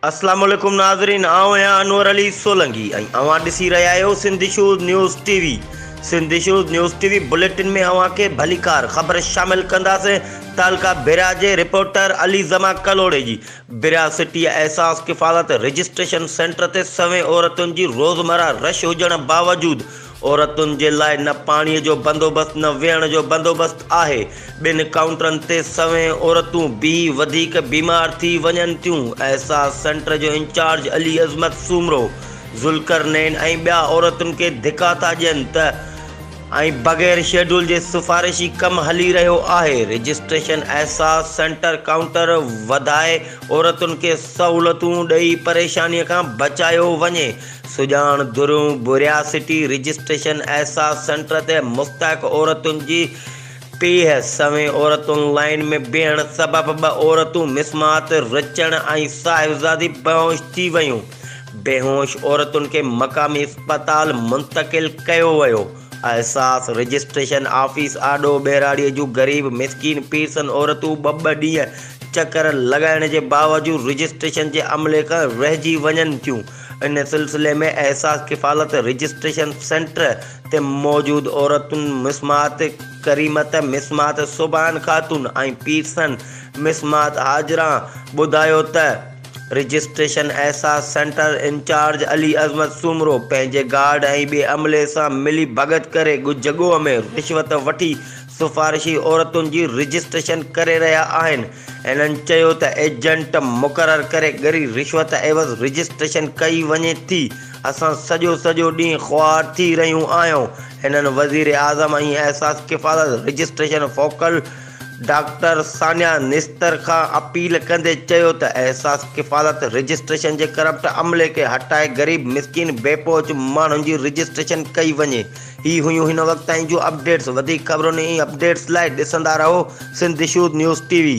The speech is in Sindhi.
السلام عليڪم ناظرين آئون آهيان انور علي سولنگي ۽ اوهان ڏسي رهيا آهيو Sindh shows news T V Sindh shows news T V bulletin ۾ اوهان کي ڀليڪار خبر شامل ڪنداسين تعلقه برا جي رپورٽر علي زما ڪلهوڙي جي برا city Ehsaas Kafalat registration centre تي سوين عورتن جي روزمرا رش هجڻ باوجود عورتن جي لاء نه پاڻي جو بندوبست نه ويهڻ جو بندوبست آهي، ٻن ڪائونٽرن تي سوين عورتون بي وڌيڪ بيمار ٿي وڃن ٿيون، احساس سينٽر جو انچارج علي عظمت سومرو، ذوالقرنين ۽ ٻيا عورتن کي ڌڪا ٿا ڏين ته ۽ بغير شيڊول جي سفارشي ڪم هلي رهيو آهي، رجسٽريشن احساس سينٽر ڪائونٽر وڌائي عورتن کي سهولتون ڏئي پريشاني کان بچايو وڃي. سڄاڻ درون بورياسٽي رجسٽريشن احساس سينٽر تي مستحق عورتن جي پيهه سوين عورتن لائين ۾ بيهڻ سبب ٻه عورتون مسمات رچڻ ۽ صاحبزادي بيهوش ٿي ويون بيهوش عورتن کي مقامي اسپتال منتقل ڪيو ويو احساس رجسٽريشن آفيس آڏو ٻهراڙي جون غريب مسڪين پيرسن عورتون ٻه ٻه ڏينهن چڪر لڳائڻ جي باوجود رجسٽريشن جي عملي کان رهجي وڃن ٿيون ان سلسلي ۾ احساس ڪفالت رجسٽريشن سينٽر تي موجود عورتن مسمات ڪريمت مسمات سوڀان خاتون ۽ پيرسن مسمات هاجرا ٻڌايو ته registration Ehsaas centre incharge Ali Azmat Soomro پنهنجي گارڊ ۽ ٻئي عملي سان ملي ڀڳت ڪري جڳوء ۾ رشوت وٺي سفارشي عورتن جي رجسٽريشن ڪري رهيا آهن. هنن چيو ته ايجنٽ مقرر ڪري ڳري رشوت عيوض رجسٽريشن ڪئي وڃي ٿي، اسان سڄو سڄو ڏينهن خوار ٿي رهيون آهيون. هنن وزيراعظم ۽ Ehsaas Kafalat registration focal doctor Sania Nishtar کان اپيل ڪندي چيو ته احساس ڪفالت رجسٽريشن جي ڪرپٽ عملي کي هٽائي غريب مسڪين بي پهچ ماڻهن جي رجسٽريشن ڪئي وڃي. هي هيون هن وقت تائين جون اپڊيٽس وڌيڪ خبرن ۽ اپڊيٽس لاء ڏسندا رهو Sindh shows news T V.